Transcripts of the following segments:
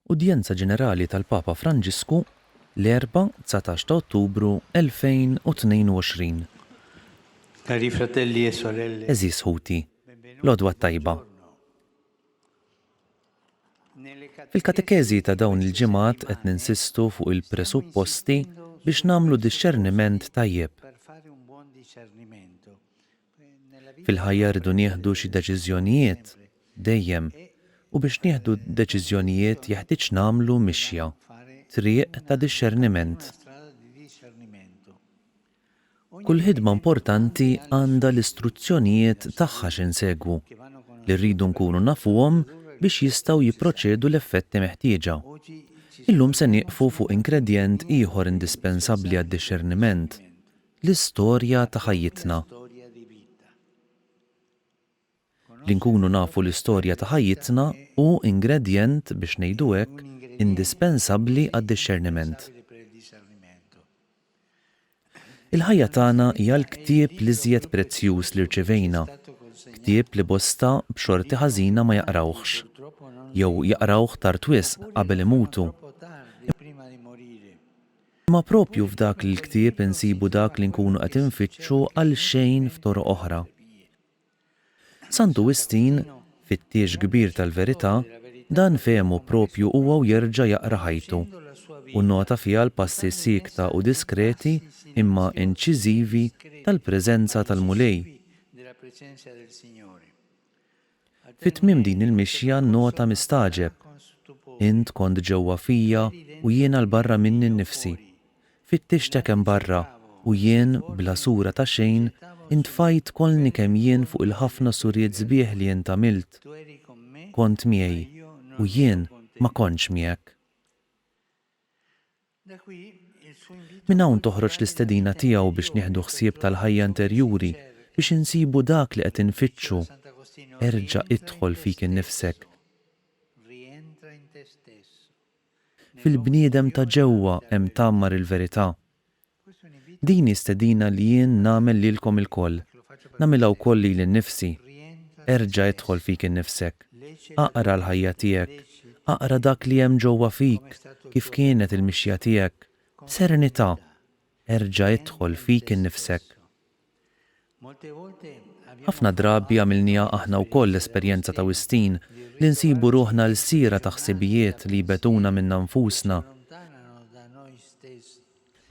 Udjenza Ġenerali tal-Papa Franġisku l-Erbgħa, dsatax ta' Ottubru 2022. Cari fratelli e sorelle. Għeżież ħuti, l-għodwa t-tajba. Fil-katekeżi ta' dawn il-ġimgħat qed ninsistu fuq il-presupposti biex nagħmlu dixxerniment tajjeb. Fil-ħajja rridu nieħdu xi deċiżjonijiet, dejjem, u biex nieħdu deċiżjonijiet jeħtieġ nagħmlu mixja, triq ta' dixxerniment. Kull ħidma importanti għandha l-istruzzjonijiet tagħha x'insegwu, li rridu nkunu nafuhom biex jistgħu jipproċedu l-effetti meħtieġa. Illum se nieqfu fuq ingredjent ieħor indispensabbli għad-dixxerniment. L-istorja ta' ħajjitna. Li nkunu nafu l-istorja ta' ħajjitna hu ingredjent, biex ngħidu hekk, indispensabbli għad-dixxerniment. Il-ħajja tagħna hija l-ktieb l-iżjed prezzjuż li rċivejna, ktieb li bosta b'xorti ħażina ma jaqrawhx, jew jaqrawh tard wisq qabel imutu, Imma proprju f'dak l-ktieb insibu dak li nkunu qed infittxu għal xejn f'toroq oħra. Santu Wistin, fittiex kbir tal-verità, dan fehmu proprju huwa u jerġa' jaqra ħajtu, u nnota fiha l-passi siekta u diskreti imma inċiżivi tal-preżenza tal-Mulej. Fi tmiem din il-mixja nnota mistagħġeb. Int kont ġewwa fija u jiena 'l barra minni nnifsi. Fittixtek hemm barra u jien, bla sura ta' xejn, intfajt kollni kemm jien fuq il-ħafna suriet sbieħ li int għamilt. Kont miegħi u jien ma kontx miegħek. Minn hawn toħroġ l-istedina tiegħu biex nieħdu ħsieb tal-ħajja interjuri, biex insibu dak li qed infittxu, Erġa' idħol fik innifsek. Fil-bniedem ta' ġewwa hemm tgħammar il-verità. Din hi stedina li jien nagħmel lilkom ilkoll, nagħmilha wkoll lili nnifsi, Erġa' idħol fik innifsek. Aqra l-ħajja tiegħek. Aqra dak li hemm ġewwa fik, kif kienet il-mixja tiegħek, b'serenità. Erġa' idħol fik innifsek. Ħafna drabi għamilniha aħna wkoll l-esperjenza ta' Wistin li nsibu ruħna lsiera ta' ħsibijiet li jbegħduna minna nfusna,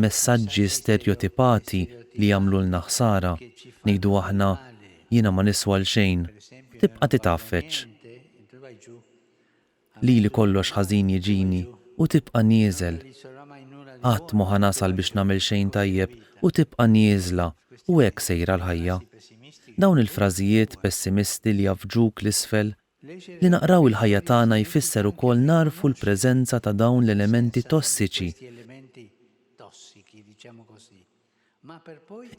Messaġġi sterjotipati li jagħmlulna ħsara. Ngħidu aħna, Jiena ma niswa 'l xejn, u tibqa' titgħaffeġ. Lili kollox ħażin jiġini, u tibqa' nieżel. Qatt m'hu ħa nasal biex nagħmel xejn tajjeb, u tibqa' nieżla, u hekk sejra l-ħajja. Dawn il-frażijiet pessimisti li jgħaffġuk 'l isfel Li naqraw il-ħajja tagħna jfisser ukoll nagħrfu l-preżenza ta' dawn l-elementi tossiċi.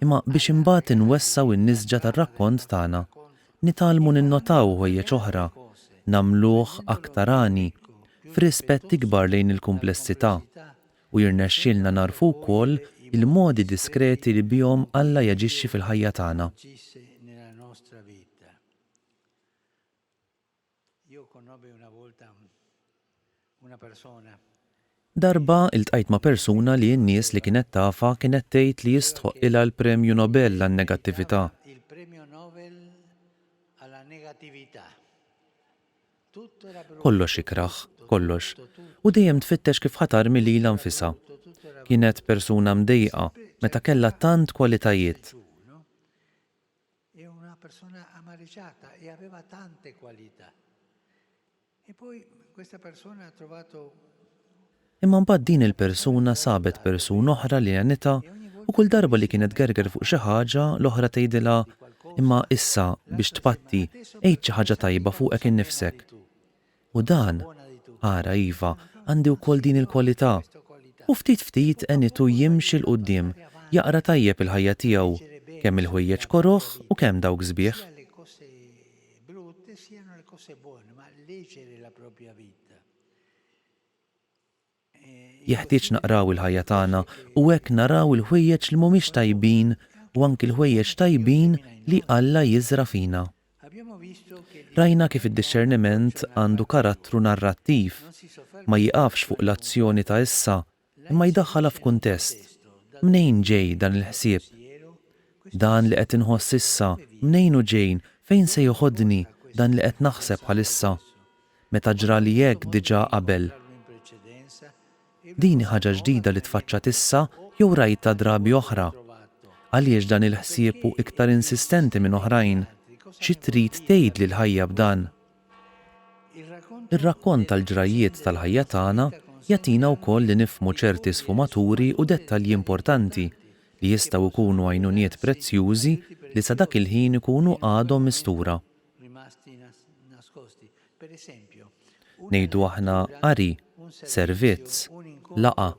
Imma biex imbagħad inwessgħu n-nisġa tar-rakkont tagħna, nitgħallmu ninnotaw ħwejjeġ oħra, nagħmluh aktar għani, f'rispett ikbar lejn il-kumplessità, u jirnexxilna nagħrfu wkoll il-modi diskreti li bihom Alla jaġixxi fil-ħajja tagħna. Darba ltqajt ma' persuna li n-nies li kienet tafha kienet tgħid li jistħoqqilha l-Premju Nobel għan-Negattività. Kollox ikrah, kollox, u dejjem tfittex kif ħa tarmi lilha nfisha. Kienet persuna mdejqa, meta kellha tant kwalitajiet. Hi una persona amariciata e aveva tante qualità. E poi questa persona ha trovato. Imma mbagħad din il-persuna sabet persuna oħra li għenitha u kull darba li kienet tgerger fuq xi ħaġa, l-oħra tgħidilha, Imma issa, biex tpatti, għid xi ħaġa tajba fuqek innifsek. U dan, ara, iva, għandi wkoll din il-kwalità. U ftit ftit għenitu jimxi 'l quddiem, jaqra tajjeb il-ħajja tiegħu, kemm il-ħwejjeġ koroh u kemm dawk sbieħ. Jeħtieġ naqraw il-ħajja tagħna u hekk naraw il-ħwejjeġ li mhumiex tajbin u anki l-ħwejjeġ tajbin li Alla jiżra' fina. Rajna kif id-dixxerniment għandu karattru narrattiv, ma jieqafx fuq l-azzjoni ta' issa imma jdaħħalha f'kuntest. Mnejn ġej dan il-ħsieb? Dan li qed inħoss issa, mnejn hu ġej, fejn se joħodni dan li qed naħseb bħalissa? meta ġrali hekk diġà qabel. Din hi ħaġa ġdida li tfaċċat issa jew rajtha drabi oħra? Għaliex dan il-ħsieb hu iktar insistenti minn oħrajn? Xi trid tgħidli l-ħajja b'dan? Ir-rakkont tal-ġrajjiet tal-ħajja tagħna jagħtina wkoll li nifhmu ċerti sfumaturi u dettalji importanti li jistgħu jkunu għajnuniet prezzjużi li sa dak il-ħin ikunu għadhom mistura. Ngħidu aħna qari, servizz, laqgħa,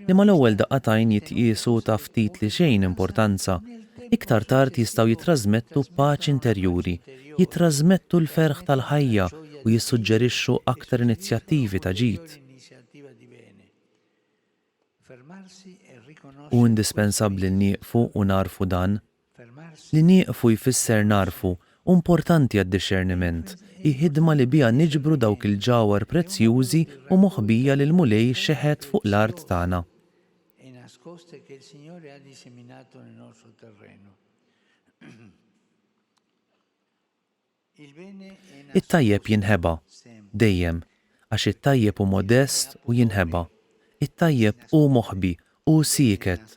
li mal-ewwel daqqa t'għajn jitqiesu ta' ftit li xejn importanza, iktar tard jistgħu jittrażmettu paċi interjuri, jittrażmettu l-ferħ tal-ħajja u jissuġġerixxu aktar inizjattivi ta' ġid. Hu indispensabbli li nieqfu u nagħrfu dan. Li nieqfu jfisser nagħrfu, hu importanti għad-dixxerniment, hi ħidma li biha niġbru dawk il-ġawhar prezzjużi u moħbija li l-Mulej xeħet fuq l-art tagħna. It-tajjeb jinħeba, dejjem, għax it-tajjeb hu modest u jinħeba. It-tajjeb hu moħbi, hu sieket,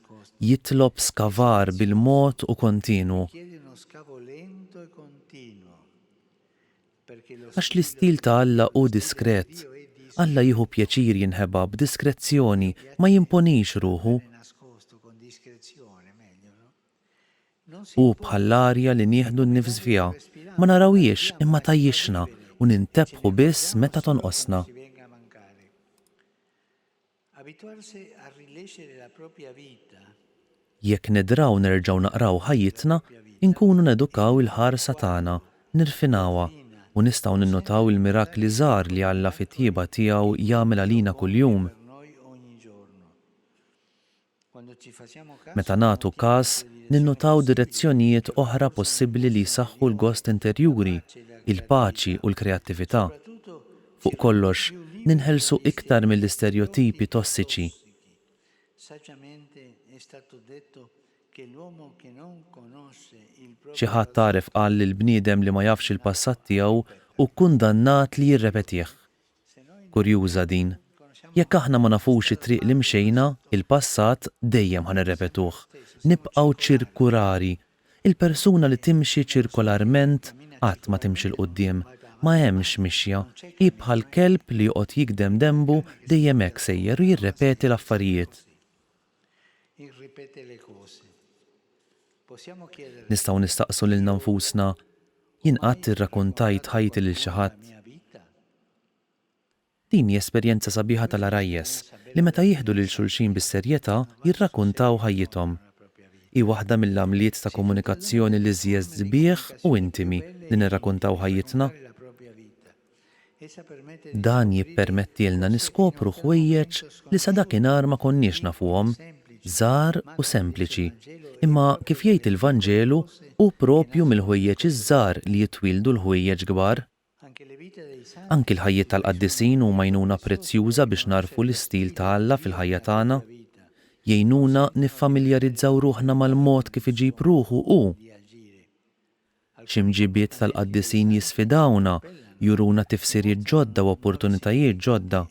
jitlob skavar bil-mod u kontinwu. Għax l-istil ta' Alla hu diskret. Alla jieħu pjaċir jinħeba b'diskrezzjoni, ma jimponix ruħu. Hu bħall-arja li nieħdu n-nifs fiha, ma narawhiex imma tgħajjixna u nintebħu biss meta tonqosna. Jekk nidraw nerġgħu naqraw ħajjitna, inkunu nedukaw il-ħarsa tagħna, nirfinawha, u nistgħu ninnutaw il-mirakli żgħar li Alla fit-tjieba tiegħu jagħmel għalina kuljum. Meta nagħtu każ, ninnutaw direzzjonijiet oħra possibbli li jsaħħu l-gost interjuri, il-paċi u l-kreattività. Fuq kollox, ninħelsu iktar mill-isterjotipi tossiċi. Xi ħadd għaref qal li l-bniedem li ma jafx il-passat tiegħu hu kkundannat li jirrepetih. Kurjuża din. Jekk aħna ma nafux it-triq li mxejna, il-passat dejjem ħa nirrepetuh. Nibqgħu ċirku rari. Il-persuna li timxi ċirkolarment qatt ma timxi 'l quddiem. Ma hemmx mixja. Hi bħal kelb li joqgħod jigdem denbu dejjem hekk sejjer u jirrepeti l-affarijiet. Nistgħu nistaqsu lilna nfusna, 'Jien qatt irrakuntajt ħajti lil xi ħadd? Din hi esperjenza sabiħa tal-għarajjes li meta jieħdu lil xulxin bis-serjetà jirrakuntaw ħajjithom. Hi waħda mill-għamliet ta' komunikazzjoni l-iżjez sbieħ u intimi li nirrakuntaw ħajjitna. Dan jippermettielna niskopru ħwejjeġ li sa dakinhar ma konniex nafuhom, żgħar u sempliċi. Imma kif jgħid il-Vanġelu, hu proprju mill-ħwejjeġ iż-żgħar li jitwieldu l-ħwejjeġ kbar. Anki l-ħajjiet tal-qaddisin huma għajnuna prezzjuża biex nagħrfu l-istil ta' Alla fil-ħajja tagħna. Jgħinuna niffamiljarizzaw ruħna mal-mod kif iġib ruħu hu. X'imġibiet tal-qaddisin jisfidawna, juruna tifsiriet ġodda u opportunitajiet ġodda?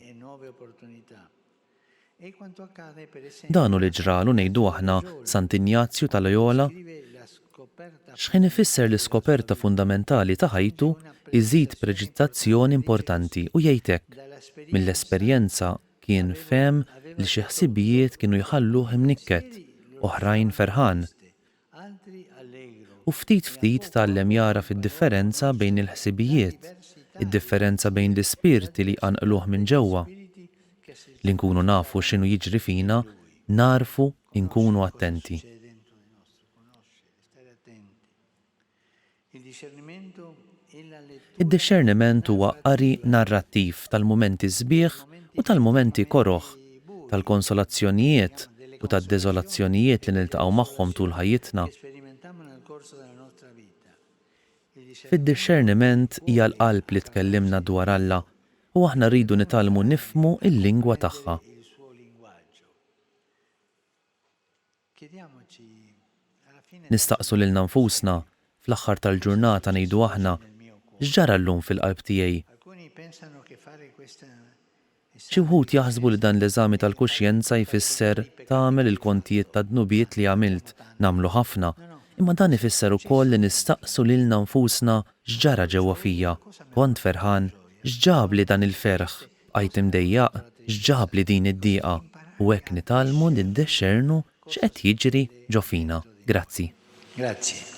Dan hu li ġralu, ngħidu aħna, Sant Injazju ta' Loyola. X'ħin ifisser l-iskoperta fundamentali ta' ħajtu, iżid preċiżazzjoni importanti u jgħid hekk, Mill-esperjenza kien fehem li xi ħsibijiet kienu jħalluh imnikket, oħrajn ferħan. U ftit ftit tgħallem jagħraf id-differenza bejn il-ħsibijiet, id-differenza bejn l-ispirti li jqanqluh minn ġewwa. Li nkunu nafu x'inhu jiġri fina nagħrfu nkunu attenti. Id-dixxerniment huwa qari narrattiv tal-mumenti sbieħ u tal-mumenti koroh, tal-konsolazzjonijiet u tad-deżolazzjonijiet li niltaqgħu magħhom tul ħajjitna. Fid-dixxerniment hija l-qalb li tkellimna dwar Alla u aħna rridu nitgħallmu nifhmu l-lingwa tagħha. Nistaqsu lilna nfusna, fl-aħħar tal-ġurnata ngħidu aħna, X'ġara llum fil-qalb tiegħi? Xi wħud jaħsbu li dan l-eżami tal-kuxjenza jfisser tagħmel il-kontijiet tad-dnubiet li għamilt, nagħmlu ħafna, imma dan ifisser ukoll li nistaqsu lilna nfusna x'ġara ġewwa fija, kont ferħan, x'ġabli dan il-ferħ? Bqajt imdejjaq x'ġabli din id-diqa u hekk nitgħallmu niddexxernu x'qed jiġri ġo fina. Grazzi. Grazzi.